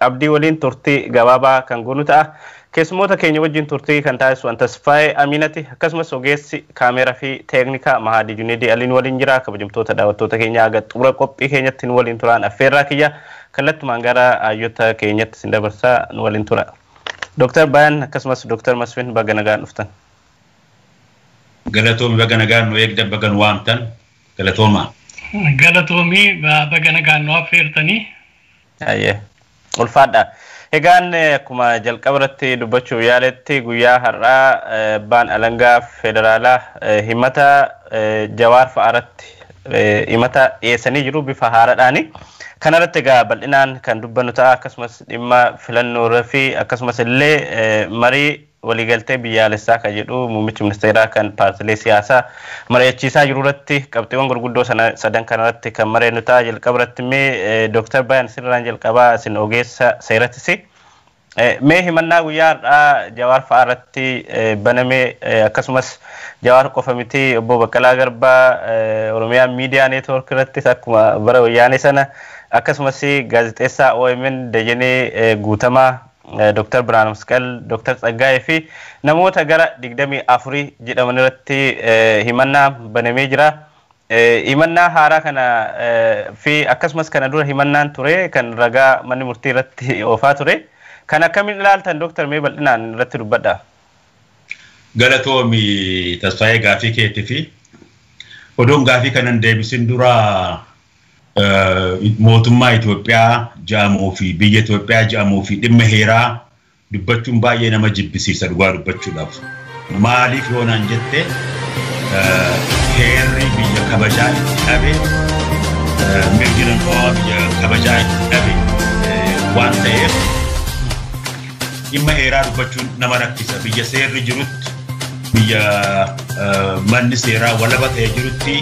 Abdii waliin turtii gabaabaa kan goonu ta'a. Keessummoota keenya wajjin turtii kan taasisu an Tasfaayee Amiinati akkasumas ogeessi kaameera fi teeknikaa Mahaadii Juneedii Aliin waliin jira. Kabajamtoota daawwattoota keenya haga xumura qophii keenyatti nu waliin turaan affeerraa kiyya kallattumaan gara hayyota keenyatti isin dabarsa nu waliin tura. Dooktar Bayan akkasumas Dooktar Masfin baga nagaan dhuftan. Galatoomi baga nagaan nu eegdan baga nu waamtan galatoomaa. Galatoomi baga nagaan nu affeertanii. Hayyee. Ulfaadha. Egaan akkuma jalqaba irratti dubbachuuf yaaletti guyyaa har'aa eh, abbaan alangaa federaalaa eh, himata eh, jawaar fa'aaratti eh, himata dhiyeessanii jiru bifa haaraadhaani. Kanarratti egaa bal'inaan kan dubbannu ta'a akkasumas dhimma filannoo irra fi akkasumas illee eh, marii Waliigaltee biyyaalessaa kan jedhu muummichi ministeeraa kan paartilee siyaasaa mari'achiisaa jiru irratti qabxiiwwan gurguddoo sana sadan kana irratti kan mareennu ta'a. Jalqaba irratti mee Dooktar Bayan isinirraan jalqabaa isin ogeessa seeratisi. Mee himannaa guyyaa har'aa Jawaar fa'aa irratti baname akkasumas Jawaar qofa miti obbo Baqqalaa Garbaa Oromiyaa Miidiyaa Neetwoork irrattis akkuma bara wayyaanee sana akkasumas gaazexeessaa OMN Dajanee Guutamaa Dr. Birhaanmasqal, Dr. Tsaggaayee fi namoota gara 24 jedhaman irratti himannaa banamee jira. Himannaa haaraa kana fi akkasumas kana dura himannaan ture kan ragaa manni murtii irratti oofaa ture. Kan akkamiin ilaaltan Dr. mee bal'inaan irratti dubbadha. Galatoomi Tasfaayee gaafii keetii fi odoon gaafii kanan deebisin dura mootummaa Itoophiyaa jedhamuu fi biyya Itoophiyaa jedhamuu fi dhimma heeraa dubbachuun baay'ee nama jibbisiisa dhugaa dubbachuudhaaf. Maaliif yoo naan jette heerri biyya kabajaa itti dhabe mirgi namoomaa biyya kabajaa itti dhabe waan ta'eef Dhimma heeraa dubbachuun nama rakkisa. Biyya seerri jirutti, biyya manni seeraa walaba ta'e jirutti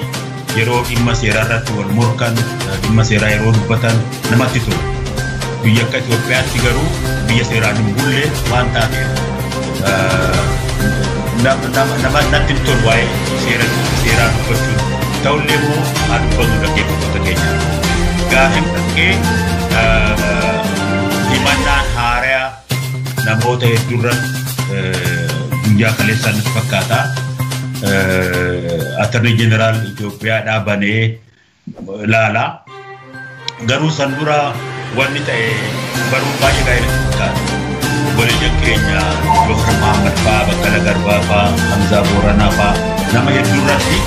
yeroo dhimma seeraa irratti wal morkan, dhimma seeraa yeroo dubbatan namatti tola. Biyya akka Itoophiyaatti garuu biyya seeraan hin bulle waan taateef namatti hin tolu waa'ee seeraa dubbachuun. Ta'ullee immoo haa dubbatu dhaggeeffattoota keenya. Gaaffiin dhaggee Himannaan haaraya namoota hedduurra guyyaa kaleessaa natti fakkaata. Attornii Jeneraal Itoophiyaa dhaabanee ilaala. Garuu san dura wanni ta'e baruu baay'ee gaarii natti fakkaata. Obboleeyyan keenya Jookar Mahammad fa'aa, Baqqala Garbaa fa'aa, Hamzaa Booranaa fa'aa nama hedduurratti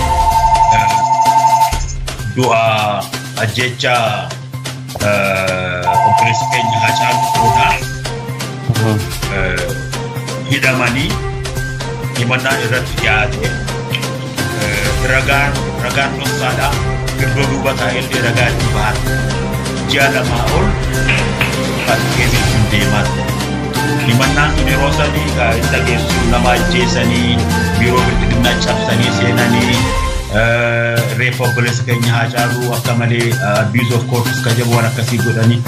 du'a ajjeechaa Obboleessi keenya Haacaaluu Tuunaa hidhamanii himannaan irratti dhiyaate ragaan ragaan dhoksaadhaa iddoo duuba taa'ellee ragaa itti bahan ji'a lamaa ol fakkeessiin deeman. Himannaan sun yeroo sadii gaa'ela dhageessisuun nama ajjeesanii biiroo bilbilinaa cabsanii seenanii reeffa obboleessa keenya Haacaaluu Akka malee abuse of courts ka jedhu waan akkasii godhanii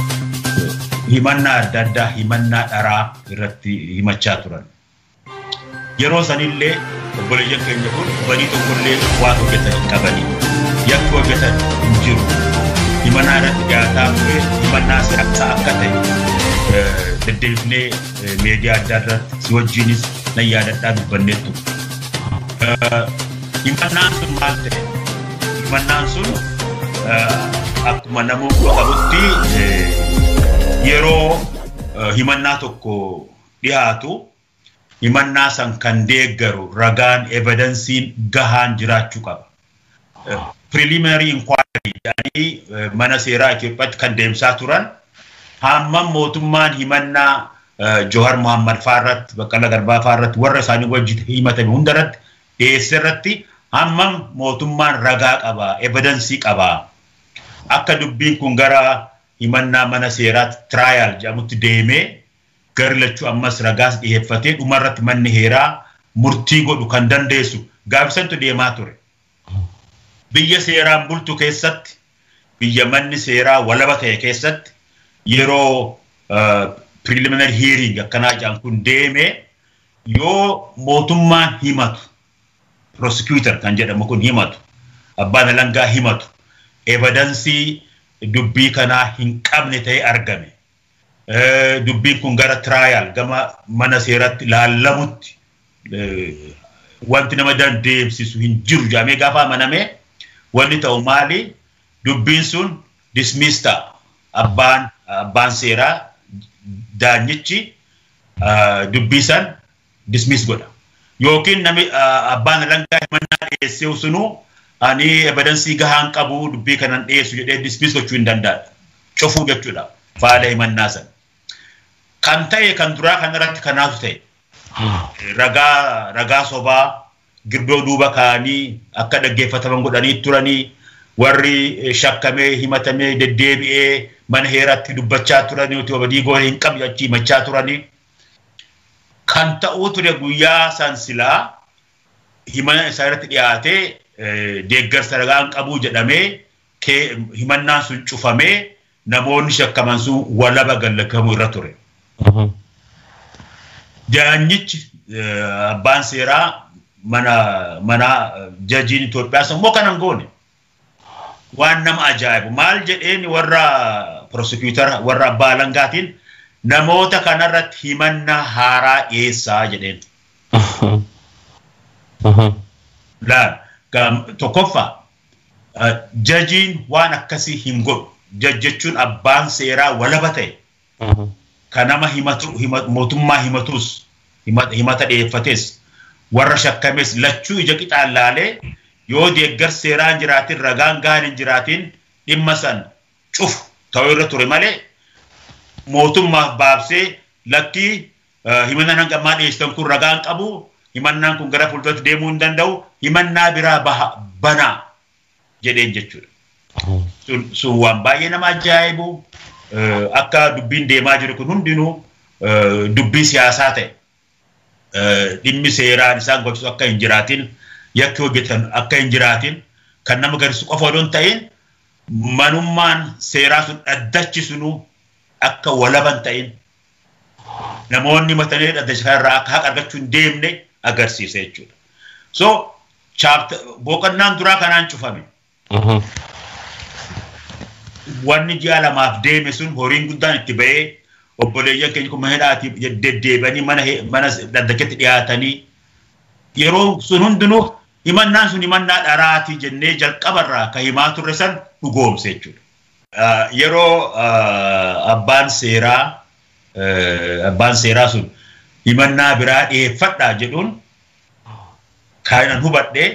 himannaa adda addaa himannaa dharaa irratti himachaa turan. Yeroo sanillee obboleeyyan keenya kun badii tokkollee waan hojjetan hin qabanii. Yakki hojjetan hin jiru. Himannaa irratti dhiyaataa ture himannaa siyaasaa akka ta'e deddeebifnee miidiyaa adda irratti si wajjinis nan yaadadhaa dubbannee ture. Himannaan sun maal ta'e? Himannaan sun akkuma nama qabutti yeroo himannaa tokko dhiyaatu himannaa san kan deeggaru ragaan evidensiin gahaan jiraachuu qaba. Preliminary inquiry jedhanii mana seeraa Itoophiyaatti kan deemsaa turan hammam mootummaan himannaa Johar Muhammad faarratti Baqqala Garbaa faarratti warra isaanii wajjin himatame hundarratti dhiyeesse irratti hammam mootummaan ragaa qaba, evidansii qaba? Akka dubbiin kun gara himannaa mana seeraatti trial jedhamutti deemee garri lachuu ammas ragaas dhiheeffatee dhuma irratti manni heeraa murtii godhu kan dandeessu gaaffii santu deemaa ture. Biyya seeraan bultu keessatti, biyya manni seeraa walaba ta'e keessatti yeroo preliminary hearing akkanaa jedhan kun deemee Yoo mootummaan himatu, prosecutor kan jedhamu kun himatu, abbaan alangaa himatu, evidansii dubbii kanaa hin qabne ta'ee argame, dubbiin kun gara trial, gama mana seeratti laallamutti wanti nama dandeemsisu hin jiru jedhamee gaafa amaname wanni ta'u maali? Dubbiin sun dismiss ta'a. Abbaan, abbaan seeraa daanyichi dubbii san dismiss godha. Yookiin nami abbaan alangaa himannaa dhiyeessee sunuu ani evidansii gahaan qabu dubbii kanan dhiyeessu jedhee dismiss gochuu hin danda'a. Cufuu jechuudha faala himannaa san. Kan ta'e kan duraa kanarratti kanaatu ta'e. Ragaa ragaa sobaa girdoo duuba kaa'anii akka dhaggeeffataman godhanii turani. Warri shakkamee, himatamee, deddeebi'ee mana heeraatti dubbachaa turani otoo badii goone hin qabne achi himachaa turani. Kan ta'uu ture guyyaa san silaa himana isaa irratti dhiyaatee deeggarsa ragaan qabuu jedhamee himannaan sun cufamee namoonni shakkaman sun walaba gallakkifamu irra ture. Daanyichi eh, abbaan seeraa mana manaa eh, jajiin Itoophiyaas immoo kana hin goone. Waan nama ajaa'ibu maal jedheen warra prosecutor warra abbaa alangaatiin namoota kanarratti himannaa haaraa dhiyeessaa jedheen. Laal gam- tokkoffaa Jajiin waan akkasii hin godhu. Jaj jechuun abbaan seeraa walaba ta'e ka nama himatu mootummaa himatuus himata dhiyeeffates warra shakkames lachuu ija qixaan laalee yoo deeggarsi seeraa hin jiraatin ragaan gahaan hin jiraatin dhimma san cufu ta'uu irra ture malee mootummaaf baabsee lakkii Himannaan hanga ammaa dhiyeessitan kun ragaa hin qabu. Himannaan kun gara fuulduratti deemuu hin danda'u. Himannaa biraa baha banaa jedheen jechuudha. Sun- Sun waan baay'ee nama ajaa'ibu eh, akka dubbiin deemaa jiru kun hundinuu eh, dubbii siyaasaa ta'e eh, dhimmi seeraan isaan gochisu akka hin jiraatin yakki hojjetan akka hin jiraatin kan nama garsiisu qofa odoo hin ta'in manummaan seeraa sun dhaddachi sunuu akka walaban ta'in namoonni matanee dhaddacha kanarraa akka haqa argachuu hin deemne agarsiisa jechuudha. So boqonnaan duraa kanaan cufame. Wanni ji'a lamaaf deeme sun horiin guddaan itti ba'ee obboleeyyan keenya kun mana hidhaati deddeebi'anii mana dhaddachatti dhiyaatanii yeroo sun hundinuu himannaan sun himannaa dharaati jennee jalqabarraa ka himaa turre san dhugoomse jechuudha. Yeroo abbaan seeraa abbaan seeraa sun himannaa biraa dhiyeeffadhaa jedhuun kaayinan hubadhe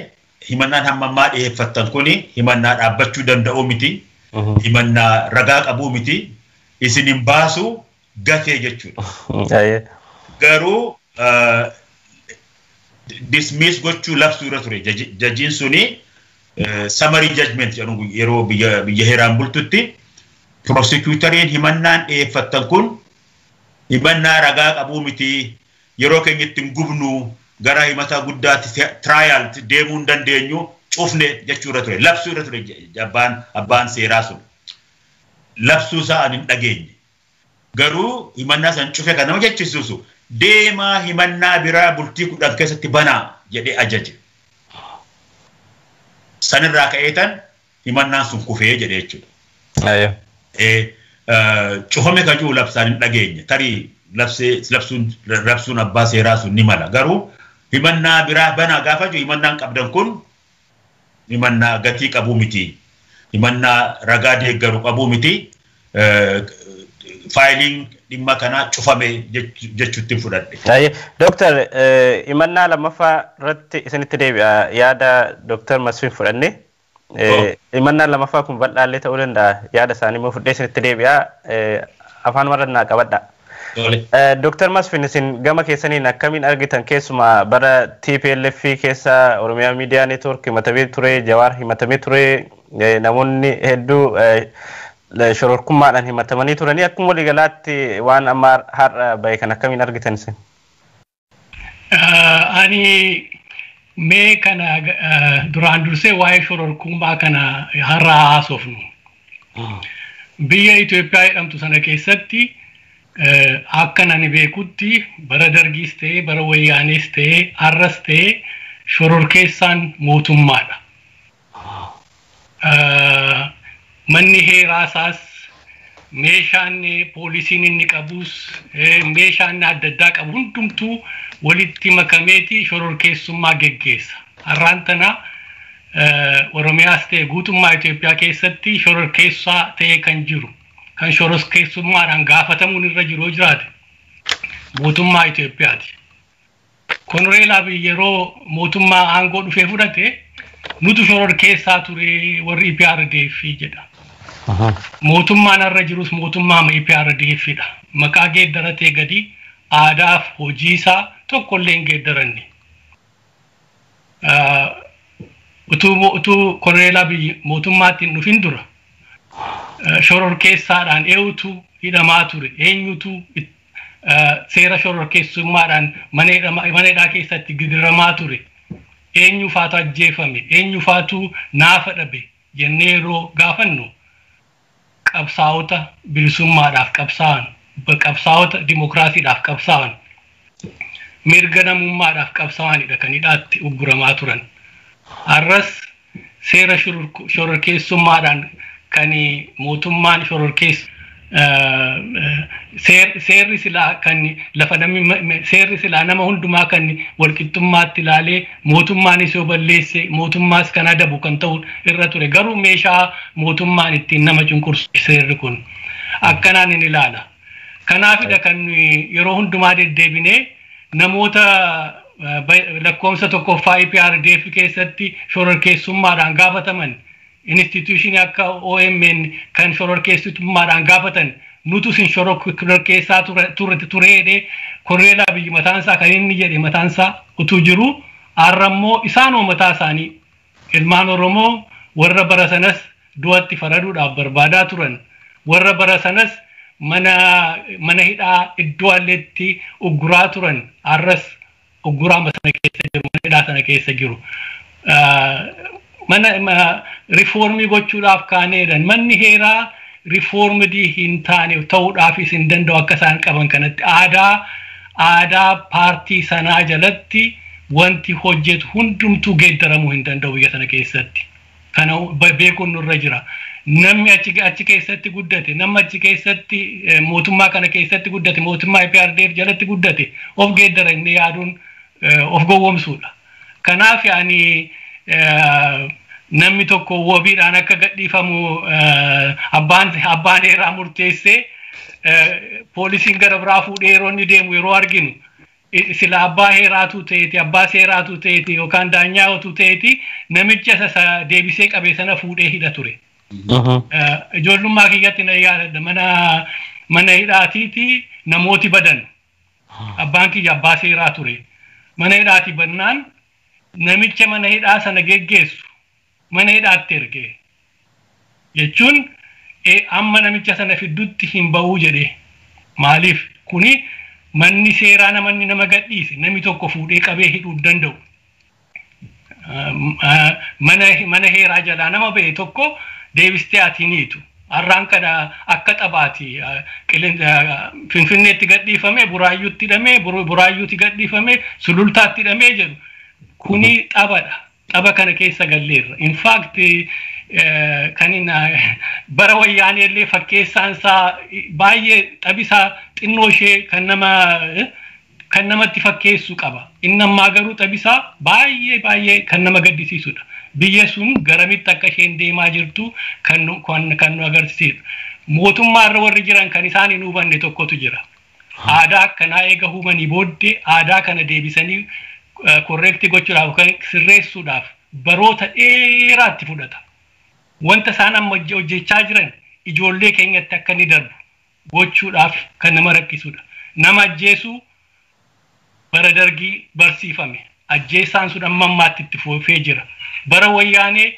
himannaan hamma ammaa dhiyeeffattan kuni himannaa dhaabbachuu danda'uu miti. Himannaa ragaa qabuu miti. Isin hin baasu gatee jechuudha. Ayee. Garuu ah, dismiss gochuu labsuu irra ture Jaji- jajiin suni eh, summary judgment jedhamu guy- yeroo biyya biyya heeraan bultutti prosecutoriin himannaan dhiyeeffattan kun himannaa ragaa qabuu miti yeroo keenya itti hin gubnu gara himataa guddaatti fe- trial tti deemuu hin dandeenyu cufne jechuu irra ture labsuu irra ture je- abbaan abbaan seeraa sun labsuu isaa an hin dhageenye Garuu himannaa san cufe kan nama jechisiisu deemaa himannaa biraa bultii 10 keessatti banaa jedhee ajaje. San irraa ka'eetan himannaan sun kufee jedhe jechuudha. Aye. Ee, cufame ka jiru labsaan hin dhageenye. Tarii labsee labsuun rabsuun abbaa seeraa sun ni mala. Garuu himannaa biraa banaa gaafa jiru himannaan qabdan kun himannaa gatii qabuu miti, himannaa ragaa deeggaru qabuu miti, faayiliin dhimma kanaa cufame jechuuttin fudhadhe. Taayee, Dooktar himannaa lammaffaa irratti isinitti deebi'a yaada Dooktar Masfin fudhanne. Himannaan lammaffaa kun bal'aallee ta'uu danda'a yaada isaanii immoo fudhee isinitti deebi'a afaan warra naa qabadhaa. Dr. Masfin isin gama keessaniin akkamiin argitan keessumaa bara TPLF keessa Oromiyaa Miidiyaa Neetwoork himatamee ture, Jawaar himatamee ture, namoonni hedduu shororkummaadhaan himatamanii turanii akkuma waliigalaatti waan amma har'a bahe kan akkamiin argitan isin? Ani mee kana duraan dursee waa'ee shororkummaa kana har'a haasofnu. Biyya Itoophiyaa jedhamtu sana keessatti akka nani beekutti bara dargiis ta'ee bara wayyaanees ta'ee har'as ta'ee shororkeessaan mootummaadha. Manni heeraa isaas meeshaan poolisiin inni qabus meeshaa inni adda addaa qabu hundumtuu walitti makameeti shororkeessummaa geggeessa. Har'aan tana Oromiyaas ta'e guutummaa Itoophiyaa keessatti shororkeessaa ta'ee kan jiru kan shororkeessummaadhaan gaafatamuun irra jiru yoo jiraate mootummaa Itoophiyaati. Konoreel Abiy yeroo mootummaa aangoo dhufee fudhate nutu shororkeessaa ture warri EPRDF jedha. Mootummaan har'a jirus mootummaa EPRDF dha. Maqaa geeddaratee gadi aadaaf hojiisaa tokkollee hin geeddaranne. Utuu Konoreel Abiy mootummaatti hin dhufin dura shororkeessaadhaan eenyutu hidhamaa ture eenyutu seera shororkeessummaadhaan mana hidhaa keessatti gidiramaa ture eenyu faatu ajjeefame eenyu faatu naafa dhabe jennee yeroo gaafannu qabsaa'ota bilisummaadhaaf qabsaa'an qabsaa'ota dimokiraasiidhaaf qabsaa'an mirga namummaadhaaf qabsaa'anidha kan hidhaatti ugguramaa turan har'as seera shororkeessummaadhaan kan mootummaan shororkeessu seerri silaa kan lafa namni seerri silaa nama hundumaa kan walqixxummaatti ilaalee mootummaanis yoo balleesse mootummaas kan adabu kan ta'u irra ture garuu meeshaa mootummaan ittiin nama cunqursu seerri kun akkanaan hin ilaala. Kanaafidha kan nuyi yeroo hundumaa deddeebinee namoota eh, ba- lakkoofsa tokkoffaa EPRDF keessatti shororkeessummaadhaan gaafataman instituushinii akka OMN kan shororkeessummaadhaan gaafatan nutu sin shororkeessaa ture- ture- tureedhe korreelaa biyyi mataansaa kan inni jedhe mataansaa utuu jiru har'a immoo isaanoo mataa isaanii Ilmaan Oromoo warra bara sanas du'atti faraduudhaaf barbaadaa turan, warra bara sanas mana mana hidhaa iddoo alleetti ugguraa turan har'as ugguraama sana keessa jiru, mana hidhaa sana keessa jiru. Mana rifoormii gochuudhaaf kaaneedhan. Manni heeraa rifoormidii hin taane ta'uudhaafis hin danda'u akka isaan qaban kanatti aadaa aadaa paartii sanaa jalatti Wanti hojjetu hundumtuu geeddaramuu hin danda'u biyya sana keessatti. Kana beekuun nurra jira. Namni achi keessatti guddate, namni achi keessatti mootummaa kana keessatti guddate, mootummaa EPRDF jalatti guddate of geeddara inni yaaduun of gowwomsuudha. Kanaaf ani namni tokko wabiidhaan akka gadhiifamu abbaan heeraa murteessee poolisiin gara biraa fuudhee yeroo inni deemu yeroo arginu Sila abbaa heeraa utuu ta'eeti, abbaa seeraa utuu ta'eeti yookaan daanyaa utuu ta'eeti namicha isa isa deebisee qabe sana fuudhee hidha ture. Eh, Ijoollummaa kiyyatti na yaadadha mana mana hidhaatiiti namooti badan. Abbaan kiyya abbaa seeraa ture. Mana hidhaati bannaan namicha mana hidhaa sana geggeessu mana hidhaatti erge jechuun amma namicha sana fiddutti hin ba'uu jedhe maaliif kuni manni seeraa namanni nama gadhiise nami tokko fuudhee qabee hidhuu hin danda'u. Mana mana heeraa jalaa nama ba'e tokko deebistee ati hin hiitu. Har'aan kana akka taphaati Finfinneetti gadhiifame Buraayyuutti hidhame Buraayyuutti gadhiifame Sulultaatti hidhame jedhu kuni taphadha. Tapha kana keessa galleerra. In fact kan bara wayyaanee illee fakkeessaan isaa baay'ee taphisaa xinnoo ishee kan nama kan namatti fakkeessu qaba. Inni ammaa garuu taphisaa baay'ee baay'ee kan nama gaddisiisudha. Biyya sun garamitti akka isheen deemaa jirtu kan nu agarsiisedha. Mootummaa irra warri jiran kan isaan hin hubanne tokkotu jira. Aadaa akkanaa eega uumanii booddee aadaa kana deebisanii correct gochuudhaaf yookaan sirreessuudhaaf baroota dheeraa itti fudhata. Wanta isaan amma hojje- hojjechaa jiran ijoollee keenyatti akka inni darbu gochuudhaaf kan nama rakkisudha. Nama ajjeesuu Bara Dargii barsiifame. Ajjeessaan sun amma ammaatti itti fufee jira. Bara Wayyaanee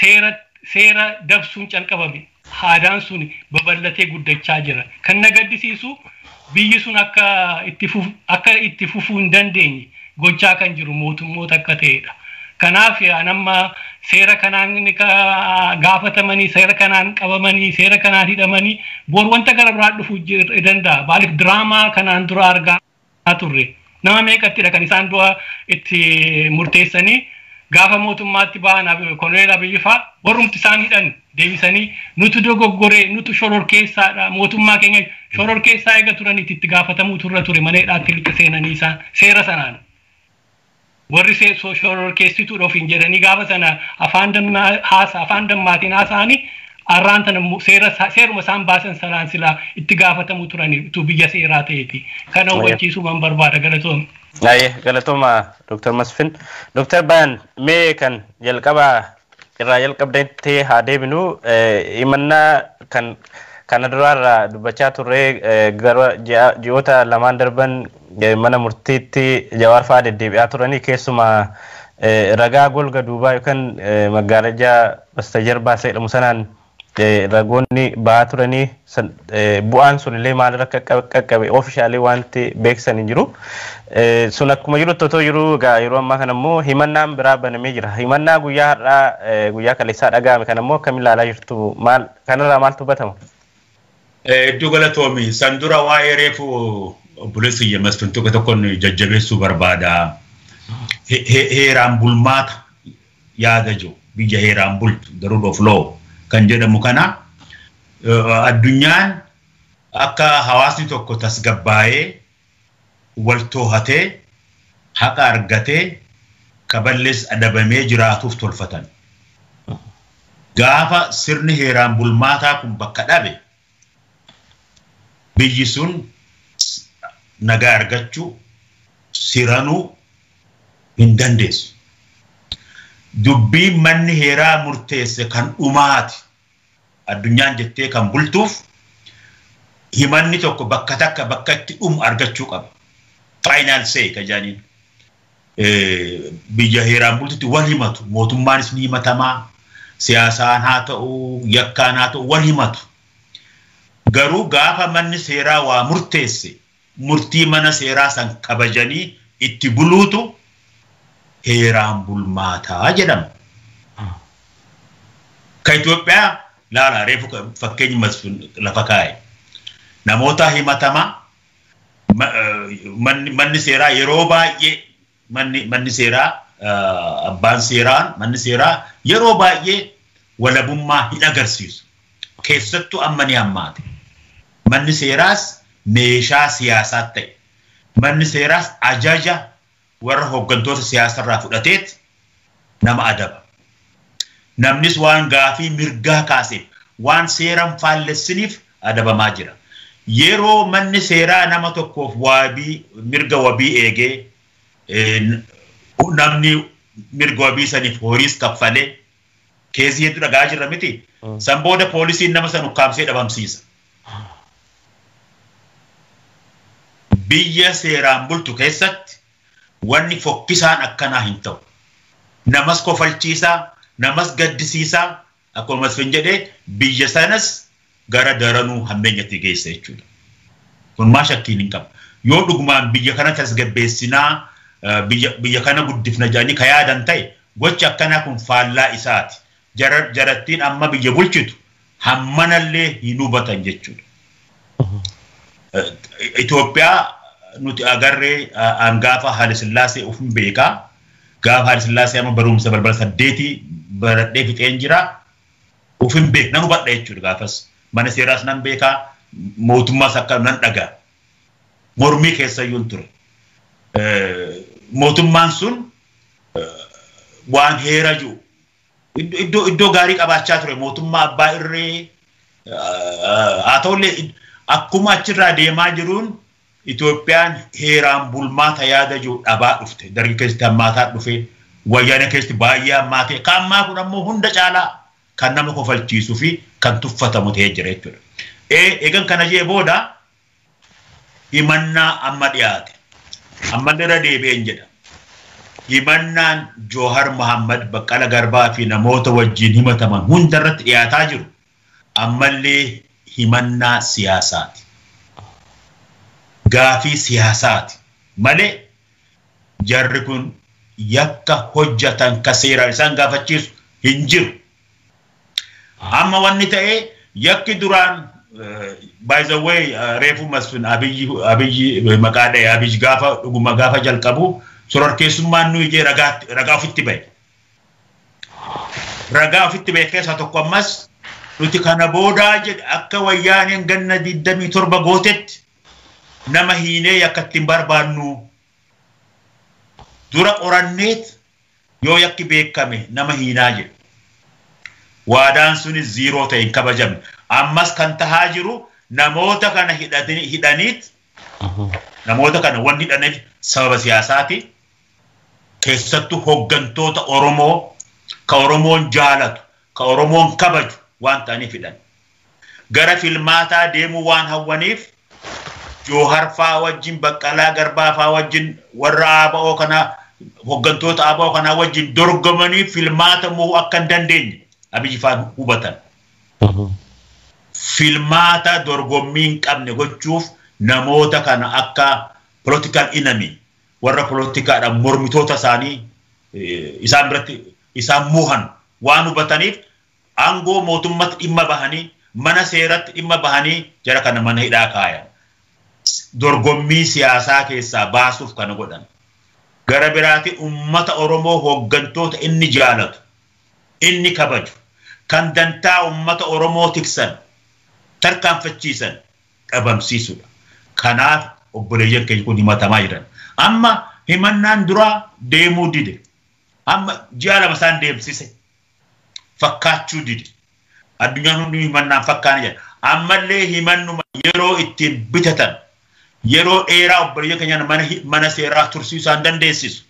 seera seera dabsuun calqabame. Aadaan sun babal'atee guddachaa jira. Kan na gaddisiisu biyyi sun akka itti fufu akka itti fufuu hin dandeenye gochaa kan jiru mootummoota akka ta'eedha. Kanaaf an amma seera kanaan gaafatamanii seera kanaan qabamanii seera kanaan hidhamanii bor wanta gara biraa dhufu danda'a. Maaliif diraamaa kanaan dura argaa turre nama meeqattidha kan isaan du'a itti murteessanii gaafa mootummaatti ba'an koloneel Abiyyifaa warrumti isaan hidhan deebisanii nutu dogoggoree nutu shororkeessaadha mootummaa keenya shororkeessaa eega turanitti itti gaafatamuutu irra ture mana hidhaatti lixa seenanii isaan seera sanaan. Warri shororkeessituudha ofiin jedhanii gaafa sana afaan dammaa haasa afaan dammaatiin haasa'anii arraan tana immoo seera seeruma isaan baasan sanaan silaa itti gaafatamu turanii utuu biyya seeraa ta'eeti. Kana hubachiisuuman barbaada galatoom. Aye, galatooma Dr. Masfin. Dr. Bayan, mee kan jalqabaa irraa jalqabdetti haa deebinu. Himannaa kan kana duraarraa dubbachaa turre gara ji'oota lamaan darban mana murtiitti jawaar fa'aa deddeebi'aa turanii keessumaa ragaa golga duubaa yookaan magaalajaa basta jarbaa jedhamu sanaan ragoonni ba'aa turanii bu'aan sun illee maalirra akka qaqqabe oofishaalee wanti beeksisan hin jiru. Sun akkuma jirutti otoo jiru egaa yeroo ammaa kana immoo himannaan biraa banamee jira. Himannaa guyyaa har'aa guyyaa kaleessaa dhaga'ame kana immoo akkamiin ilaalaa jirtu maal kanarraa maaltu hubatama? Hedduu galatoomi. San dura waa'ee reefu obboleessi kiyya masfin tokko tokkoon jajjabeessuu barbaada. Heeraan bulmaata yaada jiru biyya heeraan bultu the rule of law kan jedhamu kana addunyaan akka hawaasni tokko tasgabbaa'ee wal toohatee haqa argatee ka ballees adabamee jiraatuuf tolfatan. Gaafa sirni heeraan bulmaataa kun bakka dhabe biyyi sun nagaa argachuu siranuu hin dandeessu. Dubbiin manni heeraa murteesse kan dhumaati. Addunyaan jettee kan bultuuf himanni tokko bakka takka bakka itti dhumu argachuu qaba. Faayinaal seey ka jedhaniin. biyya heeraan bultutti wal himatu. Mootummaanis ni himatama. Siyaasaan haa ta'u, yakkaan haa ta'u wal himatu. Garuu gaafa manni seeraa waa murteesse murtii mana seeraa san kabajanii itti buluutu heeraan bulmaataa jedhama. Ka Itoophiyaa laala reefu fakkeenyi masfin lafa kaa'e. Namoota himatamaa manni seeraa yeroo baay'ee manni seeraa abbaan seeraan manni seeraa yeroo baay'ee walabummaa hin agarsiisu. Keessattuu amma ni hammaate. Manni seeraas meeshaa siyaasaatti ta'e. Manni seeraas ajaja Warra hoggantoota siyaasarraa fudhateet nama adaba. Namnis waan gaafii mirgaa kaaseef, waan seeran faallessiniif adabamaa jira. Yeroo manni seeraa nama tokkoof waabii, mirga wabii eegee, namni mirga wabii saniif horiis kaffalee, Keesii hedduu dhaga'aa jirra miti. San booda poolisiin nama san ukkaamsee dhabamsiisa. Biyya seeraan bultu keessatti wanni fokkisaan akkanaa hin ta'u. Namas kofalchiisaa, namas gaddisiisaa akkuma Masfin jedhee biyya sanas gara daranuu hammeenyatti geessa jechuudha. Kun maa shakkiin hin qabu. Yoo dhugumaan biyya kana tasgabbeessinaa biyya kana guddifna jedhanii ka yaadan ta'e gochi akkanaa kun faallaa isaati. Jarattiin amma biyya bulchitu hammanallee hin hubatan jechuudha. Itoophiyaa nuti agarree aan gaafa Haile Sillaasee ufin beekaa. Gaafa Haile Sillaasee amma barumsa balbala saddeetii baradhee fixeen jira. Of hin beeku nan hubadha jechuudha gaafas mana seeraas nan beekaa mootummaas akka nan dhagaa mormii keessayyuun ture. Mootummaan sun waan heera jiru iddoo iddoo gaarii qabaachaa ture mootummaa abbaa irree haa ta'ullee akkuma achirraa deemaa jiruun Itoophiyaan heeraan bulmaata yaada jiru dhabaa dhufte. Dargi keessatti hammaataa dhufe, Wayyaanee keessatti baay'ee hammaate, ka ammaa kun ammoo hunda caalaa kan nama kofalchiisuu fi kan tuffatamu ta'ee jira jechuudha. Eegan kana jee booda himannaa amma dhiyaate. Ammallee irra deebi'een jedha. Himannaan Joohar Mahaammad, Baqqala Garbaa fi namoota wajjin himataman hunda irratti dhiyaataa jiru Ammallee himannaa siyaasaati. Gaafii siyaasaati malee jarri kun yakka hojjatan ka seeraan isaan gaafachiisu hin jiru. Amma wanni ta'e yakki duraan by the way reefu Masfin Abiyyi Abiyyi maqaa dha'e Abiyyi gaafa dhuguma gaafa jalqabu sororkeessummaan nuyi jee ragaa ragaa ofitti ba'e. ragaa ofitti ba'e keessaa tokko ammas nuti kana boodaa jedhe akka wayyaaneen ganna 27 gootetti nama hiinee yakka ittiin barbaannu dura qoranneet yoo yakki beekame nama hiinaa jedhe. Waadaan sunis ziiroo ta'e hin kabajamne. Ammas kan tahaa jiru namoota kana hidhaniit namoota kana wanni hidhaneef sababa siyaasaati. Keessattu hoggantoota Oromoo ka Oromoon jaalatu, ka Oromoon kabaju waan ta'aniifidhan. Gara filmaataa deemuu waan hawwaniif Joohar faa wajjin, Baqqalaa Garbaa faa wajjin, warra ABO kanaa, hoggantoota ABO kanaa wajjin dorgomanii filmaata mo'uu akka hin dandeenye Abiy faan hubatan. Filmaata dorgommii hin qabne gochuuf namoota kana akka political enemy, warra polotikaadhaan mormitoota isaanii isaan biratti isaan muuhan waan hubataniif aangoo mootummatti dhimma bahanii mana seeratti dhimma bahanii jara kana mana hidhaa kaayan. Dorgommii siyaasaa keessaa baasuuf kana godhan. Gara biraatiin uummata Oromoo hooggantoota inni jaalatu, inni kabaju, kan dantaa uummata Oromoo tiksan, tarkaanfachiisan, dhabamsiisuudha. Kanaaf obboleeyyan keenya kun himatamaa jiran. Amma himannaan duraa deemuu dide. Amma ji'a lama isaan deemsise. Fakkaachuu dide. Addunyaan hundi himannaan fakkaana jedha. Ammallee himannuma yeroo ittiin bitatan yeroo dheeraa obboleeyyan keenya mana, mana seeraa tursuu isaan dandeessisu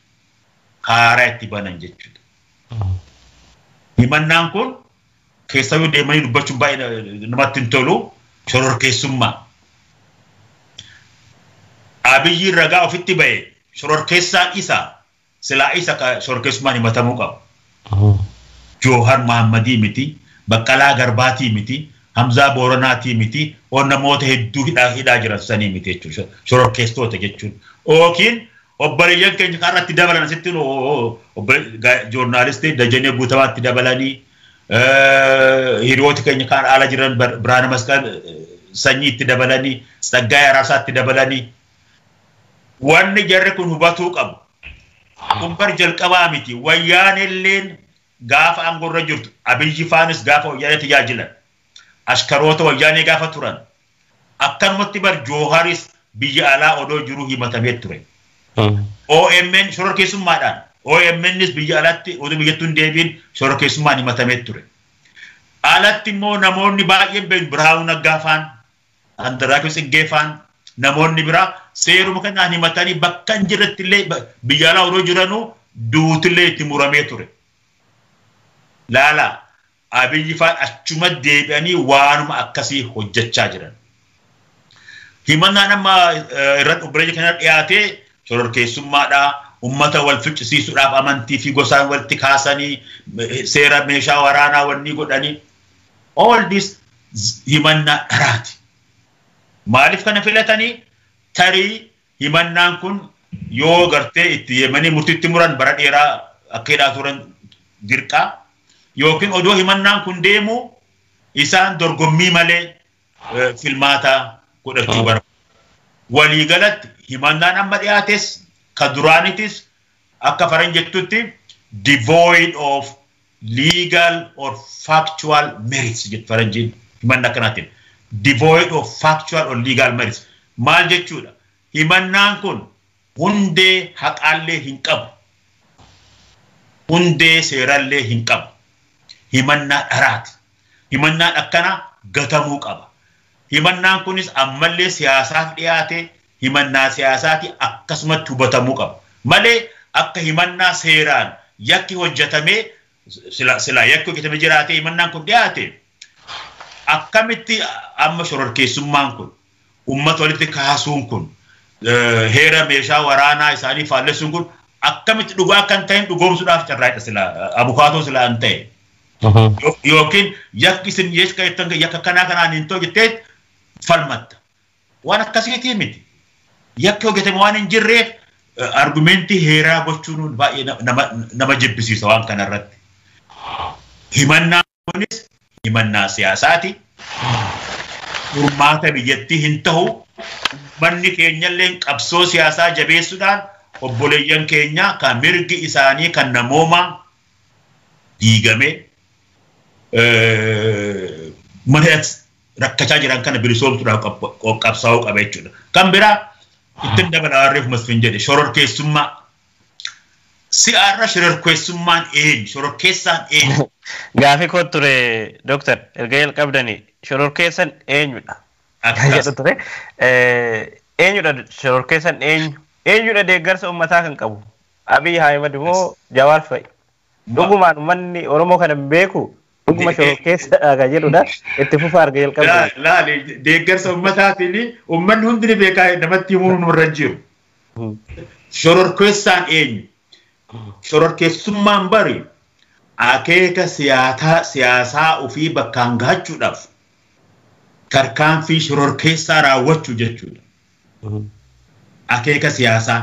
haaraa itti banan jechuudha. Himannaan kun Keessayuu deemanii dubbachuun baay'ee namatti hin tolu shororkeessummaa. Abiyyiin ragaa ofitti ba'e shororkeessaan isa silaa isa ka shororkeessummaan himatamuu qabu. Joohar Mahammadii miti, Baqqalaa Garbaatii miti, Hamzaa Booranaatii miti, oo namoota hedduu hidhaa hidhaa jiran sanii miti jechuudha. Shororkeesstoota jechuun. Ookiin Obboleeyyan keenya kan irratti dabalan asitti nu joornaalistii Dajanee Guutamaatti dabalanii hiriyooti keenya kan ala jiran Biraana Masqal sanyiitti dabalanii Tsaggaayee Araasaatti dabalanii wanni jarri kun hubatuu qabu. Kun bar jalqabaa miti wayyaanelleen gaafa aangorra jirtu abiyyi faanis gaafa wayyaanee tajaajilan ashkaroota wayyaanee gaafa turan Akkanumatti bar Jooharis biyya alaa odoo jiru himatamee ture. OMN shororkeessummaadhaan OMNs biyya alatti oduu biyyattuu hin deebiin shororkeessummaan himatamee ture. Alatti immoo namoonni baay'een beeknu Birhaanuu Naggaa faan, Andarraachuu Tsiggee faan namoonni biraa seeruma kanaan himatanii bakka hin jirretti illee biyya alaa odoo jiranuu duutillee itti muramee ture. Laalaa Abiy faan achuma deebi'anii waanuma akkasii hojjechaa jiran. Himannaan amma irratti obboleeyya keenya dhiyaate shororkeessummaadhaa, ummata wal ficcisiisuudhaaf amantii fi gosaan walitti kaasanii seera meeshaa waraanaa wannii godhanii all this himannaa dharaati. Maaliif kana filatanii tarii Himannaan kun yoo gartee itti yemanii murtitti muran bara dheeraa akka hidhaa turan dirqa yookiin odoo himannaan kun deemuu isaan dorgommii malee filmaata godhachuu bara. Waliigalatti himannaan amma dhiyaates ka duraanitis akka faran jettutti devoid of legal or factual merits jedhu faranjiin himanna akkanaatiin devoid of factual or legal merits maal jechuudha himannaan kun hundee haqaallee hin qabu hundee seerallee hin qabu himannaa dharaati himannaan akkana gatamuu qaba Himannaan kunis ammallee siyaasaaf dhiyaate himannaa siyaasaati akkasumatti hubatamuu qaba. Malee akka himannaa seeraan yakki hojjatamee sila silaa yakki hojjatame jiraatee himannaan kun dhiyaate akkamitti amma shororkeessummaan kun ummata walitti kaasuun kun heera meeshaa waraanaa isaanii faallessuun kun akkamitti dhugaa kan ta'een dhugoomsuudhaaf carraaqe sila abukaatoo sila an ta'e. yookiin yakki isin yakka jettan yakka kanaa kanaan hin ta'u jettee falmatta. Waan akkasiitii miti. Yakki hojjetame waan hin jirreef argumentii heeraa gochuun baay'ee nama jibbisiisa waan kanarratti. Himannaa kunis himannaa siyaasaati. Furmaata biyyattii hin ta'u. Manni keenyallee qabsoo siyaasaa jabeessuudhaan obboleeyyan keenya kan mirgi isaanii kan namoomaa diigamee mana rakkachaa jiran kana bilisoomsuudhaaf qabsaa'uu qaba jechuudha. Kan biraa ittiin dabala warreef masfin jedhe shororkeessummaa si'aarra shororkeessummaan eenyu shororkeessaan eenyu. Gaafii koo ture dooktar erga jalqabdanii shororkeessan eenyudha. Kan jedhu ture eenyudha shororkeessan eenyu eenyudha deeggarsa uummataa kan qabu Abiy Ahimad moo Jawaar fa'i? Dhugumaan ummanni Oromoo kana hin beekuu? Dhuguma shororkeessadha kan jedhudha. Itti fufaa erga jalqabdanii. Laali deeggarsa ummataatiin ummanni hundi ni beekaa namatti himuun nurra hin jiru. Shororkeessaan eenyu? Shororkeessummaan bari akeeka siyaasaa ofii bakkaan gahachuudhaaf tarkaanfii shororkeessaa raawwachuu jechuudha. Akeeka siyaasaa.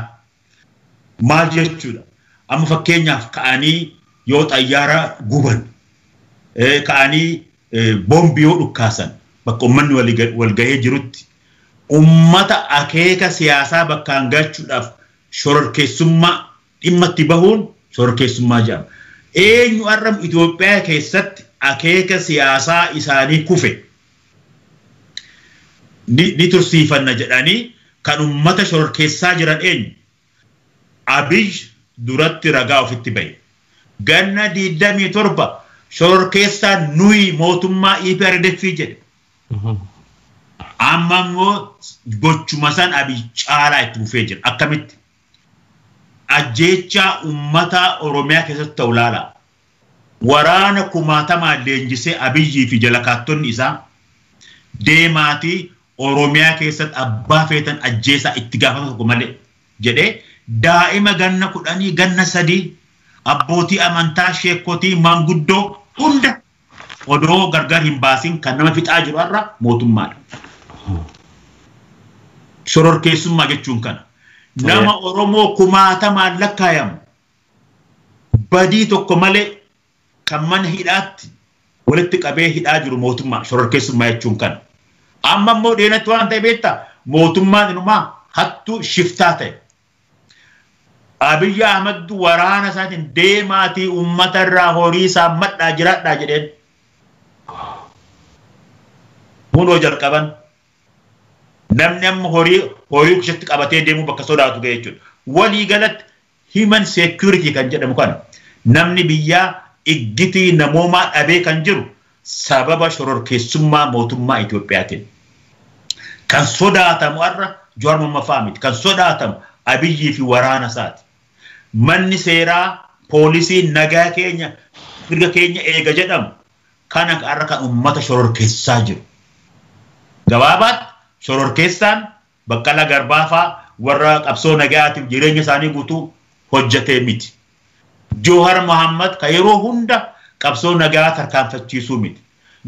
Maal jechuudha? Amma fakkeenyaaf ka'anii yoo xayyaara guban, ka'anii boombi yoo dhukkaasan bakka uummanni wal gahee jirutti uummata akeeka siyaasaa bakkaan gachuudhaaf shororkeessummaa dhimma itti bahuun shororkeessummaa jedhama. Eenyu har'a Itoophiyaa keessatti akeeka siyaasaa isaanii kufe ni tursiifanna jedhanii kan ummata shororkeessaa jiran eenyu? Abiy duratti ragaa ofitti bahe. Ganna 27 shororkeessaan nuyi mootummaa EPRDF jedhe. Amma immoo gochuma san Abiy caalaa itti fufee jira. Akkamitti? Ajjeechaa ummataa Oromiyaa keessatti ta'u ilaalaa. Waraana kumaatamaan leenjisee Abiyyii fi jalakaattonni isaa deemaatii Oromiyaa keessatti abbaa feetan ajjeesaa itti gaafatama tokko malee jedhee daa'ima ganna kudhanii, ganna sadii, abbootii amantaa, sheekkotii, manguddoo hunda odoo gargar hin baasin kan nama fixaa jiru har'a mootummaadha. Shororkeessummaa jechuun kana. Nama Oromoo kumaatamaan lakkaayamu badii tokko malee kan mana hidhaatti walitti qabee hidhaa jiru mootummaa shororkeessummaa jechuun kan amma immoo dheenatti waan ta'e beektaa mootummaan inumaa hattuu shiftaa ta'e. Abiyyi Ahmad waraana isaatiin deemaatii uummata irraa horii isaa madhaa jiraadhaa jedheen. Kunoo jalqaban namni amma horii horii keessatti qabatee deemuu bakka sodaatu ga'e jechuudha. Walii galatti Human security kan jedhamu kana namni biyyaa iggitii namoomaa dhabee kan jiru sababa shororkeessummaa mootummaa Itoophiyaatiin. Kan sodaatamu har'a Jawaar Mohammafaa miti. Kan sodaatamu Abiyyii fi waraana isaati. Manni seeraa, poolisiin nagaa keenya, mirga keenya eega jedhamu kana har'a kan uummata shororkeessaa jiru. Gabaabaatti shororkeessaan Baqqalaa Garbaa faa warra qabsoo nagayaatiif jireenya isaanii guutuu hojjatee miti. Jowhar Mohammed ka yeroo hunda qabsoo nagayaa tarkaanfachiisuu miti.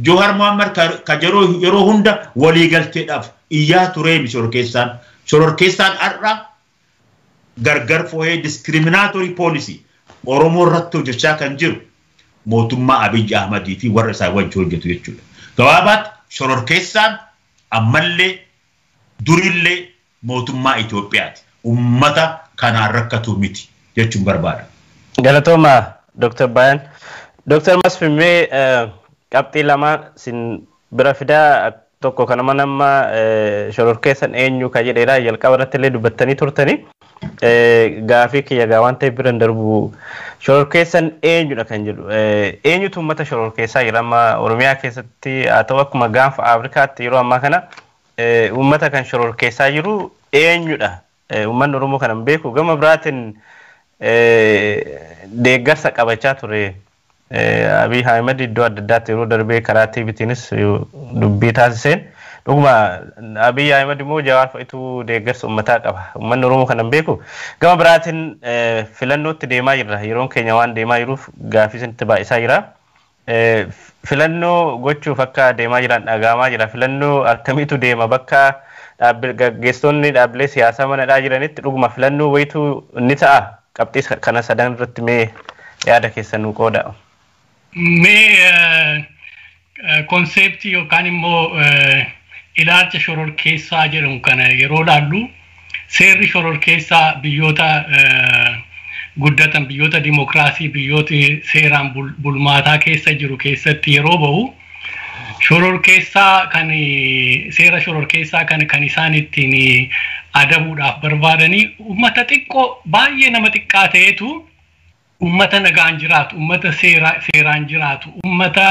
Jowhar Mohammed ka ka yeroo yeroo hunda waliigalteedhaaf iyyaa turee miti shororkeessaan. Shororkeessaan har'a gargar fooyee discriminatory policy Oromoo irratti hojjachaa kan jiru mootummaa Abiy Ahmad fi warra isaa wajji hojjatu jechuudha. Gabaabaatti shororkeessaan ammallee Durillee mootummaa Itoophiyaati. Ummata kanaan rakkatu miti jechuun barbaada. Galatoomaa Dr. Bayan. Dr. Masfin mee qabxii lama sin bira fidaa tokko kanuma nama shororkeessan eenyu ka jedheedha jalqaba irratti illee dubbattanii turtanii. Gaafii kiyya gaa waan ta'eef bira hin darbu. Shororkeessan eenyudha kan jedhu. Eenyutu uummata shororkeessaa jira amma Oromiyaa keessatti haa ta'u akkuma gaanfa Afrikaatti yeroo ammaa kana uummata kan shororkeessaa jiru eenyudha? Uummanni Oromoo kana hin beeku. Gama biraatiin deeggarsa qabachaa ture. Abiy Ahimed iddoo adda addaatti yeroo darbee karaa TVtiinis dubbii taasiseen dhuguma Abiy Ahimed immoo Jawaar fa'itu deeggarsa ummataa qaba. Ummanni Oromoo kana hin beeku. Gama biraatiin filannootti deemaa jirra. Yeroon keenya waan deemaa jiruuf gaaffii isinitti baay'isaa jira. Filannoo gochuuf akka deemaa jiran dhaga'amaa jira. Filannoo akkamiitu deema bakka gaggeessitoonni dhaabbilee siyaasaa mana hidhaa jiranitti dhuguma filannoo wayitu ni ta'a. Qabxii kana sadan irratti mee yaada keessan nuu qoodaa. Mee konseeptii yookaan immoo ilaalcha shororkeessaa jedhamu kana yeroo laallu seerri shororkeessaa biyyoota guddatan biyyoota dimokiraasii biyyoota seeraan bulmaataa keessa jiru keessatti yeroo bahu Shororkeessaa kan seera shororkeessaa kan kan isaan ittiin adabuudhaaf barbaadanii uummata xiqqoo baay'ee nama xiqqaa ta'etu uummata nagaan jiraatu, uummata seeraan jiraatu, uummata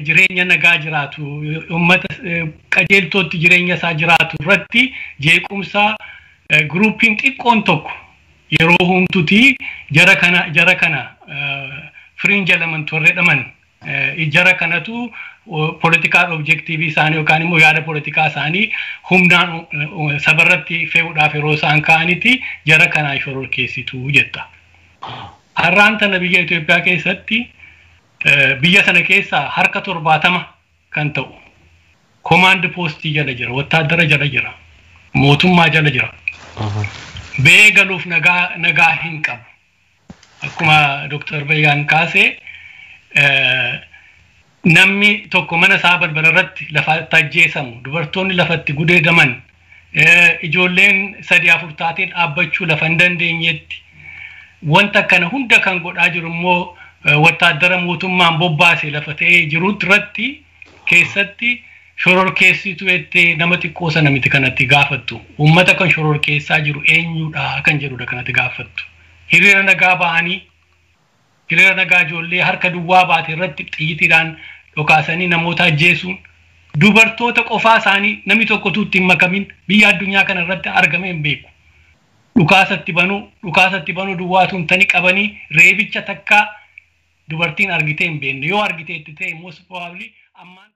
jireenya nagaa jiraatu, uummata qajeeltootti jireenya isaa jiraatu irratti jeequmsa guruupiin xiqqoon tokko yeroo homtuti jara kana jara kana fringe element warra jedhaman jara kanatu political objective isaanii yookaan immoo yaada politikaa isaanii humnaan sabarratti fe'uudhaaf yeroo isaan ka'anitti jara kanaa shororkeessitu jetta. Har'aan tana biyya Itoophiyaa keessatti biyya sana keessaa harka torbaatama kan ta'u komaand poostii jala jira, wattaaddara jala jira, mootummaa jala jira. Ba'ee galuuf nagaa nagaa hin qabu. Akkuma Dooktar Bayyaan kaase eh, namni tokko mana isaa balbala irratti lafa itti ajjeesamu, dubartoonni lafa itti gudeedaman, ijoolleen sadii afur taatee dhaabbachuu lafa hin dandeenyetti wanta kana hunda kan godhaa jiru immoo wattaaddara mootummaan bobbaase lafa ta'ee jirutti irratti keessatti shororkeessitu jettee nama xiqqoo sana miti kanatti gaafattu. Uummata kan shororkeessaa jiru eenyudha kan jedhudha kanatti gaafattu. Hiriira nagaa ba'anii Hiriira nagaa ijoollee harka duwwaa baate irratti xiyyitiidhaan dhokaasanii namoota ajjeesuun, dubartoota qofaa isaanii namni tokko utuu itti hin makamin biyya addunyaa kana irratti argamee hin beeku. Dhukaasa itti banuu, dhukaasa itti banuu duwwaa utuu hin tane qabanii reebicha takkaa dubartiin argitee hin beekne. Yoo argiteetti ta'e most probably ammaan tana.